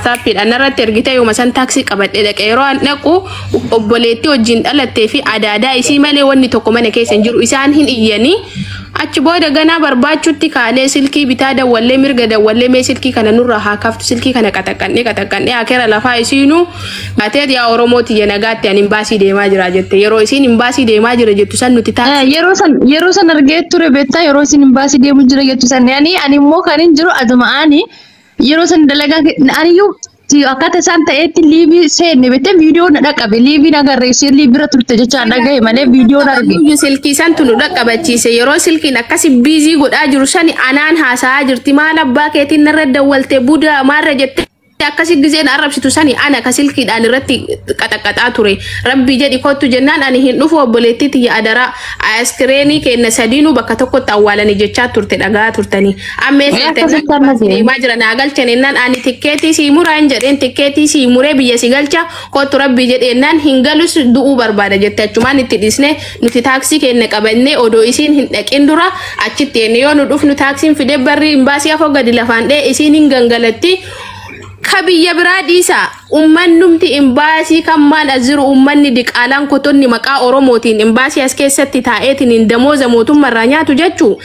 Saappiidhaan irratti ergitee yooma san taaksii qabadhee dhaqe yeroo an dhaqu obboleettii wajjin dhalattee fi adaadaa isii malee wanni tokko mana keessa hin jiru isaan hin iyyanii achi booda ganaa barbaachuutti kaanee silkii bitaa dawwallee mirga dawwallee mee silkii kana nurraa haa kaftu silkii kana qaxaqqannee qaxaqqannee akeera lafaa isiinuu Atee yaa Oromoo tiyya nagaatti ani imbaasii deemaa jira jette yeroo isiin imbaasii deemaa jira jettu san nuti taasisa. Eh, yeroo san yeroo san argee ture beektaa yeroo isin imbaasii deemu jira jettu san ani ani immoo kan hin jiru aduma ani yeroo san dalagaa ke- ani iyyuu ti- akkaataa isaan ta'etti liivii seenne beektee viidiyoo na dhaqabe liivii na garreessee liivira turte jechaan dhagahe malee viidiyoo na arge. Iyyuu silkii santu nu dhaqqabachiise yeroo silkiin akkasi biizii godhaa jiru sani anaan haasa'aa jirti maal abbaa keetiin narra dawwalte budaa maarra jette akkasi gizeen arrabsitu sani ana ka silkiidhaan irratti qaxaqaxaa ture rabbii jedhi kottu jennaan ani hin dhufu obboleettii tiyya adaraa askireenii keenna sadiinuu bakka tokkotti awwaalanii jechaa turte dhagaa turtanii ammee Ee, seete akkasitti amma jee. deemaa jira naa galchan jennaan ani tikkeetii sii muraa hin jedheen tikkeetii sii muree biyya si galcha Kottu rabbii jedhe jennaan hin galus du'uu barbaada jette achumaan itti dhiisne nuti taaksii keenya qabannee odoo isiin hin dhaqin dura achitti enne yoo nu dhufnu taaksiin fide barri hin baasii afoo gadi lafaan dhee isiin hin gangalatti ka biyya biraa dhiisa ummannumti imbaasii kan maan as jiru ummanni diqaalaan kotonni maqaa oromootiin imbaasii as keessatti taa'eetiin hin damooza mootummaa irraa nyaatu jechuu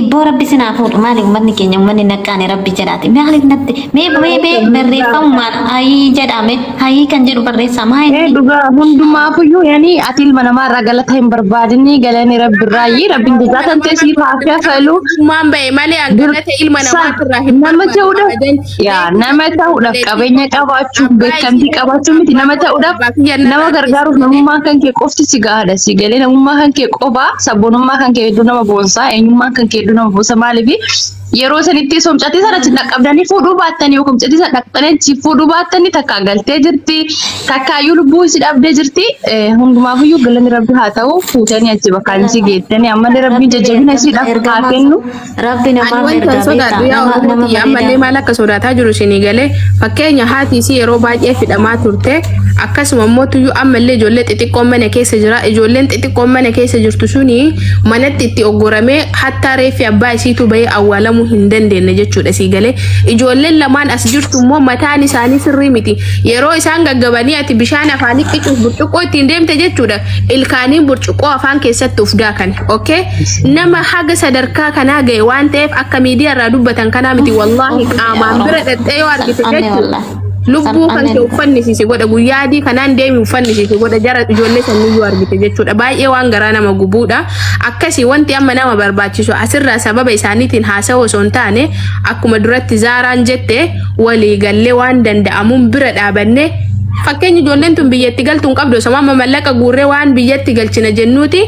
Ibboo rabbi sinaa fuudhu maali ummanni keenya ummanni naqqaane rabbi jedhaati maaliif natti mee mee mee barreeffamumaan hayii jedhame hayii kan jedhu barreessaa maa Ee inni dhugaa hundumaafuyyuu yani ati ilma namaa irraa galata hin barbaadinni galanii rabbi irraa yii rabbiin jazaa kan ta'e siif haa kafalu. Waan ba'e malee hanqinata ilma Sa- namaa irraa hin nama ta'uudha. barbaadu. Yaa nama ta'uudhaaf qabeenya qabaachuun beekamtii qabaachuun miti nama ta'uudhaaf nama gargaaruuf namummaa kan kee qofti si gahaadha si galee namummaa kan kee qofaa sabboonummaa kan kee hedduu nama boonsaa eenyummaan kan kee hedduu nama boonsa maaliif yeroo sanitti somcatii sana si dhaqqabdanii fuudhuu baattanii yookiin somcatii sana dhaqqabdanii si fuudhuu baattanii takkaa galtee jirti takkaayyuu lubbuu si dhabdee jirti hundumaafiyyuu galanni rabbi haa ta'u fuutanii achi bakkaan si geettanii ammallee rabbiin jajjabina si dhaaf haa kennu. Rabbi Ani namaaf wanta ergaa sodaadhu beektaa yaa nama nama Oromooti ammallee bareedaa. maal akka sodaataa jiru isinii galee fakkeenya haati isii yeroo baay'ee fidhamaa turte akkasuma immoo tuyyuu ammallee ijoollee xixiqqoon mana keessa jira ijoolleen xixiqqoon mana keessa jirtu suni manatti itti oggoramee hattaa reeffi abbaa isiitu bahee awwaalamuu hin dandeenye jechuudha sii galee ijoolleen lamaan as jirtu immoo mataan isaanii sirrii miti yeroo isaan gaggabanii ati bishaan afaanii qicuuf burcuqqoo ittiin deemte jechuudha ilkaaniin burcuqqoo afaan keessatti uf daakan okay nama haga sadarkaa kanaa ga'e waan ta'eef akka miidiyaa irraa dubbatan kanaa miti wallaahi qaamaan bira dhaxxee yoo argite Anne jechuudha wallahi. lubbuu kan Anne- kee uffannisiise godha guyyaa adii kanaan deemi uffannisiise godha jara ijoollee sanii yoo argite jechuudha baay'ee waan garaa nama gubuudha akkasii wanti amma nama barbaachisu asirraa sababa isaaniitiin haasa'u osoo hin taane akkuma duratti zaaraan jette walii gallee waan danda'amuun bira dhaabannee fakkeenya ijoolleen tun biyyatti galtu hin qabdu osoo amma mallaqa guurree waan biyyatti galchina jennuuti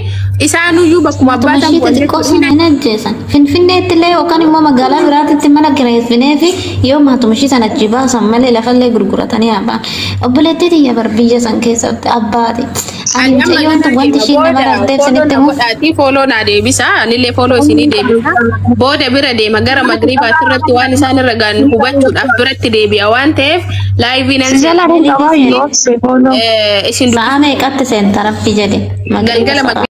isaanuyyuu bakkuma abbaa Tumashii ta'an xixiqqoo sun hin ajjeesan. Finfinneetti illee yookaan immoo magaalaa biraatitti mana kireessinee fi yoo maatumashii sana achi baasan malee lafallee gurguratanii haabaan. Obboleettii tiyya bar biyya san keessatti abbaati. Ani amma Mucayyoon tun garaa wanti deema ishiin booda namarra hin teebsan fooloo itti na himuuf. godhaatii fooloo naa deebisa anillee fooloo isinii deebisa booda bira deema gara magriibaatti irratti waan isaan irra ga'an hubachuudhaaf biratti deebi'a waan ta'eef laayivii nan Si jala seena. hin qabaa yoo obse fooloo. Eh, isin Sa'a dubbisuu meeqatti seenta rabbi jedhe. Magriiba galgala sa'a. magriiba